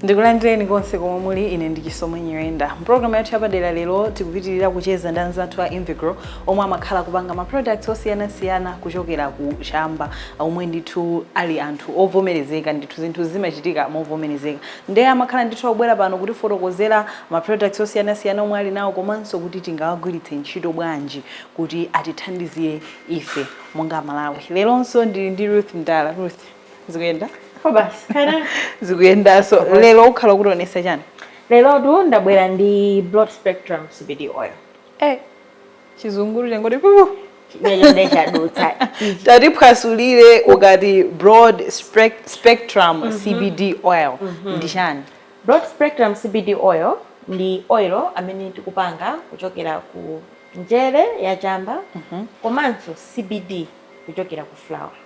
ndikulandireni konse komwe muli ine ndi chisomo nyirenda mpulogalamu yathu yapadera lero tikupitirira kucheza ndi anzathu a invegrow omwe amakhala kupanga ma products osiyanasiyana kuchokera ku chamba omwe ndithu ali anthu ovomerezeka ndithu zinthu zimachitika movomerezeka nde amakhala ndithu akubwera pano kutifotokozera ma products osiyanasiyana omwe ali nawo komanso kuti tingawagwiritse ntchito bwanji kuti atithandizire ife monga amalawi leronso ndili ndi ruth mdala ruth zikuyenda Basi, kaya. zikuyendanso lero ukhala ukutionesa chani Lero tu ndabwera ndi broad spectrum CBD oil. eh chizunguru changoti pupu chimene chadutsa ichi tatiphwasulire ukati broad spec- spectrum cbd oil ndi chani broad spectrum cbd oil ndi oil amene tikupanga kuchokera ku njere ya chamba komanso cbd kuchokera ku flower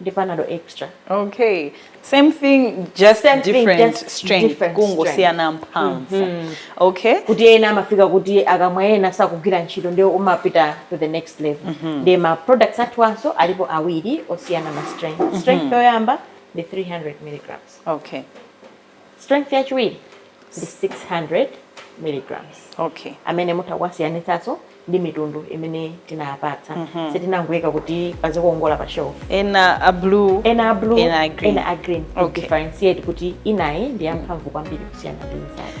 ndi panado extra okay same thing just different strength kungosiyana mphamvu mm -hmm. okay kuti ena amafika kuti akamwa ena sakugwira ntchito ndiye umapita to the next level mm -hmm. ndiye ma products athu anso alipo awiri osiyana ma strength mm -hmm. strength yoyamba ndi 300 milligrams okay strength yachiwiri ndi 600 milligrams okay amene mutha kuwasiyanitsanso ndi mitundu imene tinapatsa mm-hmm. sitinangoyika kuti pazikongola pa shelf ena a blue ena a green. ena a green. Okay. differentiate kuti inayi ndi yamphamvu kwambiri kusiyana ndi inzake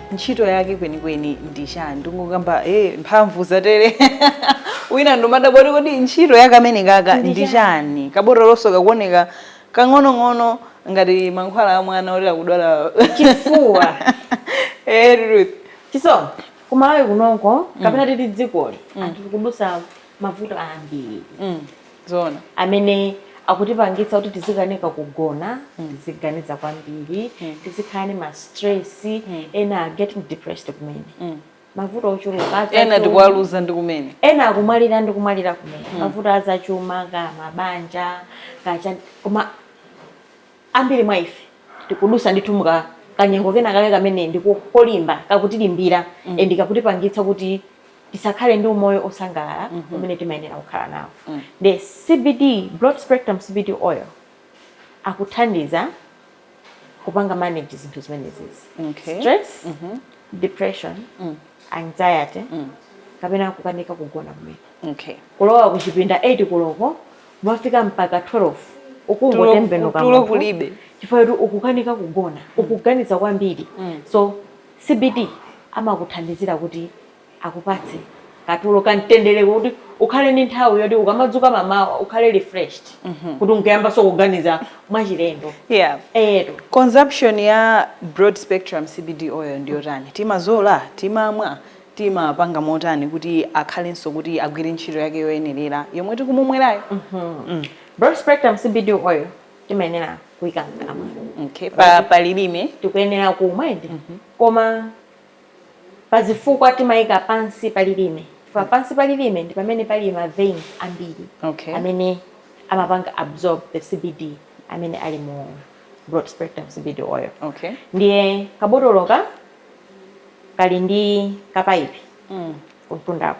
ntchito yake kwenikweni ndi chani tikungokamba e mphamvu zatere wina ndikumadabwa kuti kodi ntchito yake amene kaka ndi chani? kabotolonso kakuoneka kang'onong'ono ngati mankhwala a mwana oti akudwala Chifuwa. Eh, Ruth. chisomo kumalawi kunoko kapena titi dzikoli anthu tikudusa mavuto ambiri Mm. zoona amene akutipangitsa kuti tizikanika kugona mm. tiziganiza kwambiri mm. tizikhala ni ma stress mm. ena are getting depressed kumene mm. mavuto ochuluka ena tikuwaluza kumene ena akumwalira ndi kumwalira kumene mm. mavuto azachuma kaya mabanja kaya chani koma ambiri mwa ife tikudusa ndithu muka kanyengo kena kake kamene ndikolimba kakutilimbira mm. and kakutipangitsa kuti tisakhale ndi umoyo osangalala mm -hmm. umene timayenera kukhala nawo mm. nde CBD broad spectrum CBD oil akuthandiza kupanga manage zinthu zimenezizi okay. stress mm -hmm. depression mm. anxiety mm. kapena kukanika kugona kumene okay. kulowa kuchipinda 8 koloko kumafika mpaka 12 ukungotembenuka tulo kulibe chifukwa kuti ukukanika kugona mm. ukuganiza kwambiri mm. so CBD amakuthandizira kuti akupatse katulo kamtendere kuti ukhale ndi nthawi yoti ukamadzuka mamawa ukhale refreshed mm -hmm. kuti nkuyambanso kuganiza mwachilendo yeah. eyetu consumption ya broad spectrum CBD oil ndiyotani timazola timamwa timapanga motani kuti akhalenso kuti agwire ntchito yake yoyenerera yomwe tikumumwerayo mm -hmm. mm. broad spectrum CBD oil timayenera kuika mkamwa okay. pa, pa lilime tikuyenera kumwa ende mm -hmm. koma pazifukwa timaika pansi pa lilime chifukwa pansi pa lilime ndi pamene pali ma vein ambiri okay. amene amapanga absorb the CBD amene ali mu broad spectrum CBD oil okay. ndiye kabotoloka kali ndi kapaipi mm. kumtundako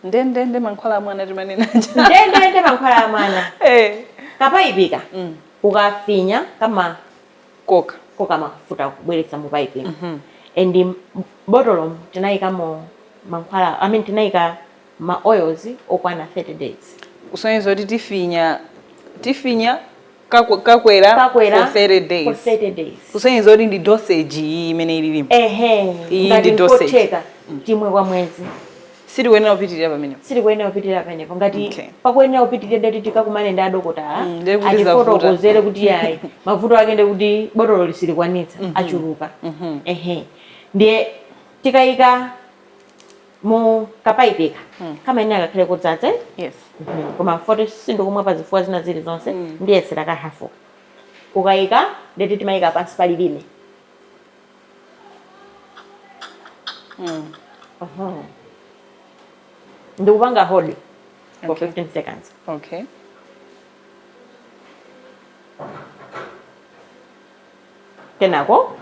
ndendende mankhwala a mwana timanena ndendende mankhwala a mwana eh. kapaipika mm. ukafinya kamakoka koka mafuta kubweretsa mu paipi mm -hmm. and botolomu tinayikamo mankhwala i mean tinayika ma oils okwana 30 days kusonyeza kuti tifinya tifinya kakwera kakwera for 30 days for 30 days kusonyeza kuti ndi dosage iyi imene ililimu ehe iyi ndi dosage timwe kwa mwezi silikuyenera kupitirira pamenepo silikuyenera kupitirira pamenepo ngati okay. pakuyenera kupitirira ndeti tikakumane ndi adokotala mm, atifotokozere kuti yayi mavuto ake ndi kuti botolo silikwanitsa mm -hmm. achuluka mm -hmm. ehe ndiye tikayika mu kapaipika kamayenera kakhale kodzadza eh? yes Mhm. koma poti sindikumwa pa zifukwa zina zili zonse ndiyesera ka hafu ukayika ndeti timayika pansi pa lilime Mhm. ndikupanga hold for Okay. 15 seconds okay kenako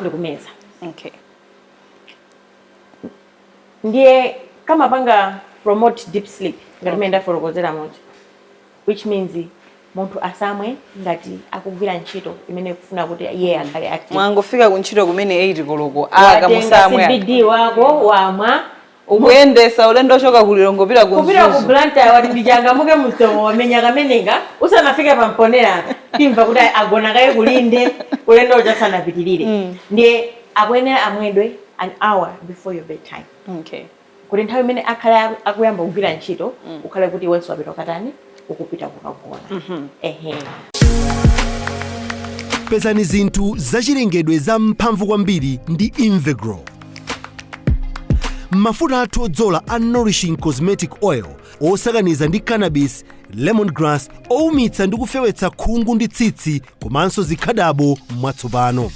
ndikumeza okay ndiye kamapanga promote deep sleep ngati mmene ndafotokozera muja which means munthu asamwe ngati akugwira ntchito imene ikufuna kuti iye akhale active mwangofika kuntchito kumene 8 koloko ah musamwe aka. cbd wako wamwa ukuyendesa ulendo ochoka ku Lilongwe pita ku kupita ku Mzuzu. Blantyre wati ndichangamuke m'maso wamenya kameneka usanafike pa Mponera timva kuti agona kaye ku lodge ulendo uja sanapitirire ndiye akuyenera amwedwe an hour before your bed time okay. kuti nthawi imene akhale akuyamba kugwira ntchito mm. ukhale kuti iwenso wapita kukatani ukupita kukagona mm -hmm. ehe pezani zinthu zachilengedwe za mphamvu kwambiri ndi invegrow mafuta athu odzola a nourishing cosmetic oil osakaniza ndi cannabis lemongrass oumitsa ndi kufewetsa khungu ndi tsitsi komanso zikhadabo mwatsopano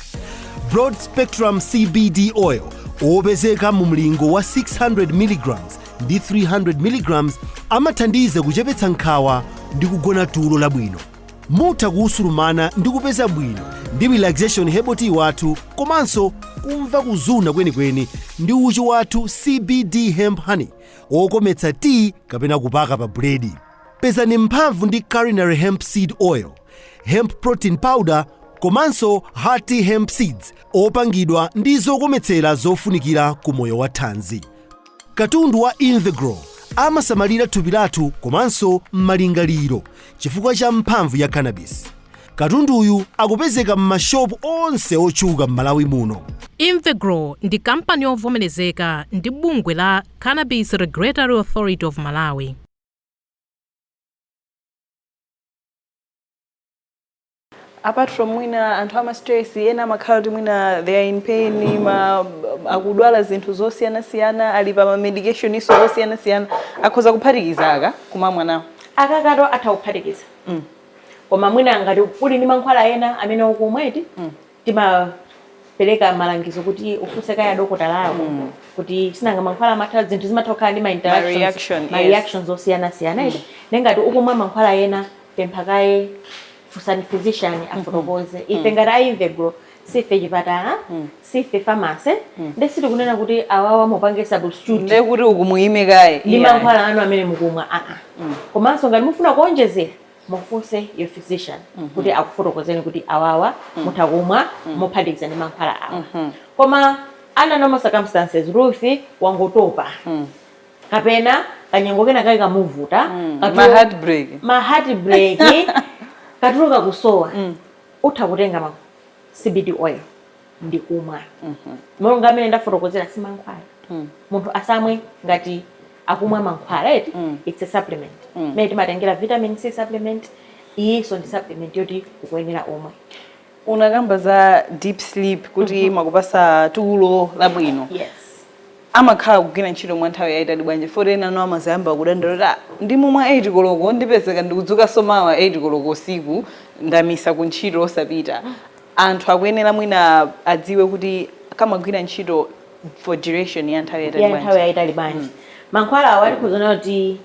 broad spectrum cbd oil opezeka mu mlingo wa 600 mg ndi 300 mg amathandiza kuchepetsa nkhawa ndi kugona tulo labwino mutha kutsitsimuka ndi kupeza bwino ndi relaxation herbal tea wathu komanso kumva kuzuna kwenikweni ndi uchi wathu cbd hemp honey wokometsa tiyi kapena kupaka pa buledi pezani mphamvu ndi culinary hemp seed oil hemp protein powder komanso hearty hemp seeds opangidwa ndi zokometsera zofunikira ku moyo wa thanzi katundu wa Invegrow amasamalira thupi lathu komanso malingaliro chifukwa cha mphamvu ya cannabis katunduyu akupezeka m'mashopu onse otchuka m'malawi muno Invegrow ndi kampani yovomerezeka ndi bungwe la Cannabis Regulatory Authority of Malawi. apart from mwina anthu ama stress ena amakhala kuti mwina they are in pain ma akudwala zinthu zosiyanasiyana ali pa ma medications osiyanasiyana akhoza kuphatikiza aka kumamwa nawo akakakhala atha kuphatikiza koma mwina ngati uli ndi mankhwala ena amene ukumwa eti timapereka malangizo kuti ufunse kaye dokotala wako mm. kuti sinanga mankhwala amatha zinthu zimatha kukhala ndi mareactions osiyanasiyana mm. nde ngati ukumwa mankhwala ena pempha kaye funsani physician mm-hmm. afotokoze mm. ife ngati a Invegrow sife chipatala mm. sife pharmacy mm. nde sitikunena kuti awawa mupange substitute ndiye kuti muime kaye ndi mankhwala anu amene mukumwa aa ah, ah. mm. komanso ngati mufuna kuonjezera mufunse your physician kuti akufotokozeni kuti awawa mutha kumwa mophatikiza ndi mankhwala awa koma under normal circumstances ruth wangotopa kapena kanyengo kena kake kamuvuta katu- ma heartbreak ma heartbreak katulo kakusowa utha kutenga ma cbd oil ndi kumwa monga mmene ndafotokozera si mankhwala munthu asamwe ngati akumwa mankhwala eti it's a supplement mmene timatengera vitamin c supplement iyinso ndi supplement yoti ukuyenera umwe unakamba za deep sleep kuti amakupatsa tulo labwino yes amakhala kugwira ntchito mwa nthawi yayitali bwanji poti ena ano amadzayamba kudandaula ndikamwa 8 koloko ndipezeka ndikudzukanso mawa 8 koloko usiku ndamisa ku ntchito osapita anthu akuyenera mwina adziwe kuti amagwira ntchito for duration ya nthawi yatali bwanji nthawi yatali bwanji mm. mankhwala awa tikuziona kuti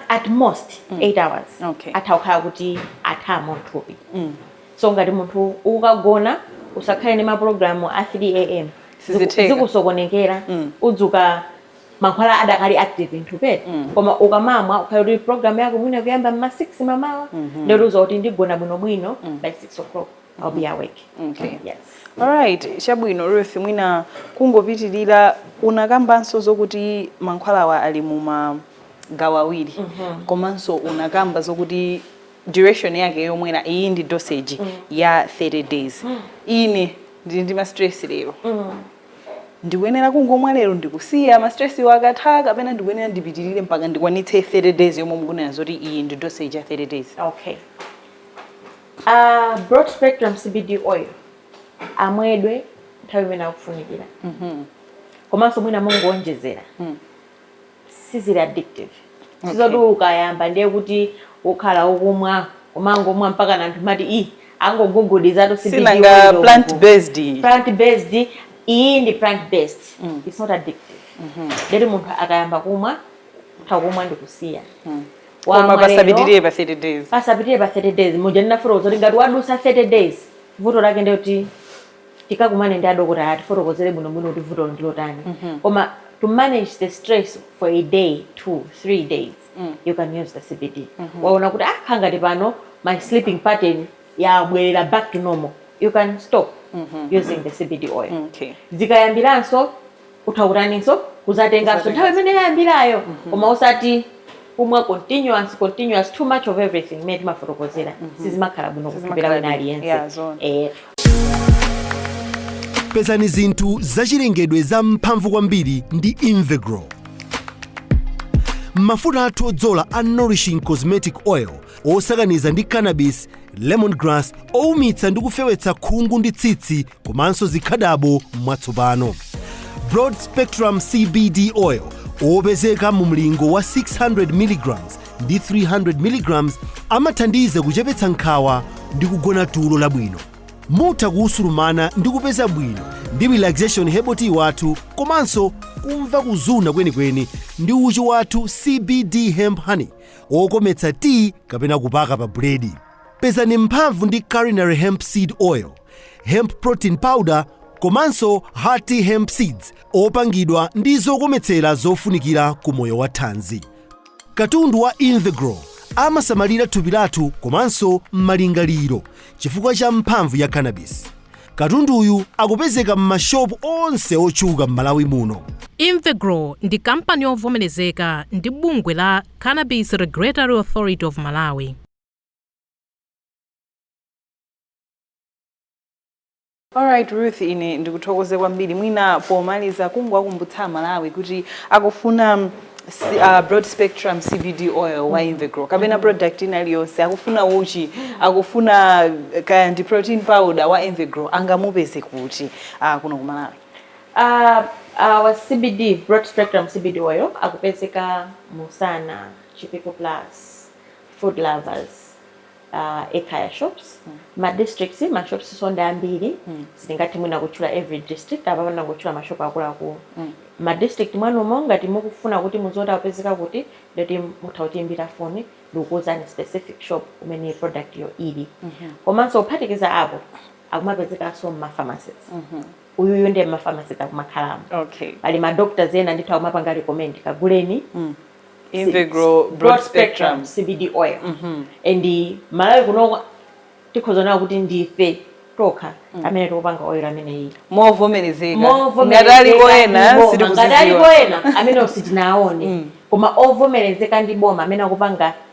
at most 8 mm. hours okay. atha kukhala kuti atha m'thupi mm. so ngati munthu ukagona usakhale ndi maprogramu a 3 am zikusokonekera mm. udzuka mankhwala adakali active m'thupi mm. koma ukamamwa ukhale kuti program yako mwina kuyamba mma 6 mamawa mm -hmm. ndiye udziwe kuti ndigona bwino bwino mm. by 6 o'clock I'll be awake. Okay. Yes. All right, chabwino Ruth mwina kungopitirira unakambanso zokuti mankhwalawa ali mu magawo awiri mm -hmm. komanso unakamba zokuti duration yake yomwera iyi ndi dosage mm. ya 30 days mm. ine ndili ndi ma stress lero mm. ndikuyenera kungomwa lero ndikusiya ma stress-wo akatha kapena ndikuyenera ndipitirire mpaka ndikwanitse 30 days yomwe mukunena zoti iyi ndi dosage ya 30 days okay uh, broad spectrum cbd oil amwedwe nthawi imene akufunikira komanso mwina mongowonjezera sizili addictive Okay. sizoti ukayamba ndiye kuti ukhala ukumwa umangomwa mpaka anthu amati i angogugudizatu sinanga plant based plant based iyi ndi plant based mm. it's not addictive mm -hmm. ndiye kuti munthu akayamba kumwa utha kumwa ndikusiya mm. Koma pasapitirire pa 30 days pasapitirire pa 30 days muja ndinafotokoza kuti ngati wadusa 30 days vuto lake ndekuti tikakumane ndi adokotala atifotokozere bwinobwino kuti vutoli ndi lotani mm -hmm. koma to manage the stress for a day two three days mm. you can use the cbd mm -hmm. waona kuti ah ngati pano my sleeping pattern yabwerera back to normal you can stop mm -hmm. using the cbd oil mm, okay. zikayambiranso utha kutaninso kuzatenganso nthawi imene yayambirayo koma osati kumwa continuous continuous too much of everything imene timafotokozera sizimakhala bwino kuthupi la Sizimakhala wina bwino. aliyense Yeah, zoona. Eh, pezani zinthu zachilengedwe za mphamvu kwambiri ndi invegrow mafuta athu odzola a nourishing cosmetic oil osakaniza ndi cannabis lemongrass oumitsa ndi kufewetsa khungu ndi tsitsi komanso zikhadabo mwatsopano broad spectrum cbd oil opezeka mu mlingo wa 600 mg ndi 300 mg amathandiza kuchepetsa nkhawa ndi kugona tulo labwino mutha kutsitsimuka ndi kupeza bwino ndi relaxation herbal tea wathu komanso kumva kuzuna kwenikweni ndi uchi wathu cbd hemp honey wokometsa tea kapena kupaka pa buledi Pezani mphamvu ndi Culinary Hemp Seed Oil, Hemp Protein Powder komanso Hearty Hemp Seeds opangidwa ndi zokometsera zofunikira ku moyo wa thanzi. Katundu wa Invegrow amasamalira thupi lathu komanso malingaliro chifukwa cha mphamvu ya cannabis. Katunduyu akupezeka m'mashopu onse otchuka m'Malawi muno. Invegrow ndi kampani yovomerezeka ndi bungwe la Cannabis Regulatory Authority of Malawi. Alright Ruth, ine ndikuthokoze kwambiri mwina pomaliza kungowakumbutsa aMalawi kuti akufuna mm, si- uh, broad spectrum CBD oil wa Invegrow kapena product ina iliyonse akufuna uchi akufuna eh, kaya ndi protein powder wa Invegrow angamupeze kuti uh, kuno ku Malawi Uh, our CBD, broad spectrum CBD oil, akupezeka mu Sana, Chipiku Plus, food lovers uh, ekhaya shops mm. ma districts ma shopsnso ndi ambiri mm. sitingathe mwina kutchula every district apa tangotchula ma shop akuluakulu mm. ma district mwanumo ngati mukufuna kuti muziwe akupezeka kuti ndiye kuti mutha kutiimbira foni ndikukuuzani specific shop umene productyo ili mm -hmm. komanso kuphatikiza apo akumapezekanso mmapharmacies mm -hmm uyuyu ndiye mmapharmacies akumakhalamo okay. pali madoctors ena ndithu akumapanga recommend kaguleni mm. Invegrow broad spectrum CBD oil mm -hmm. and Malawi kunoko tikhoza kunena kuti ndife tokha mm. amene tikupanga oil ameneyi movomerezeka ngati aliko ena sitikuziziwa ngati aliko ena amene sitinaone mm. koma ovomerezeka ndi boma amene akupanga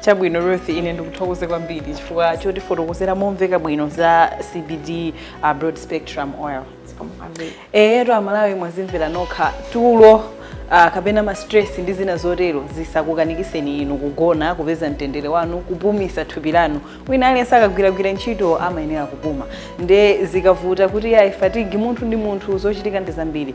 chabwino ruth ine ndikuthokoze kwambiri chifukwa chotifotokozera momveka bwino za cbd uh, broad spectrum oil eyetu amalawi mwazimvera nokha tulo uh, kapena ma stress ndi zina zotero zisakukanikiseni inu kugona kupeza mtendere wanu kupumisa thupi lanu wina aliyense akagwiragwira ntchito amayenera kupuma nde zikavuta kuti ayi fatigue munthu ndi munthu zochitika ndi zambiri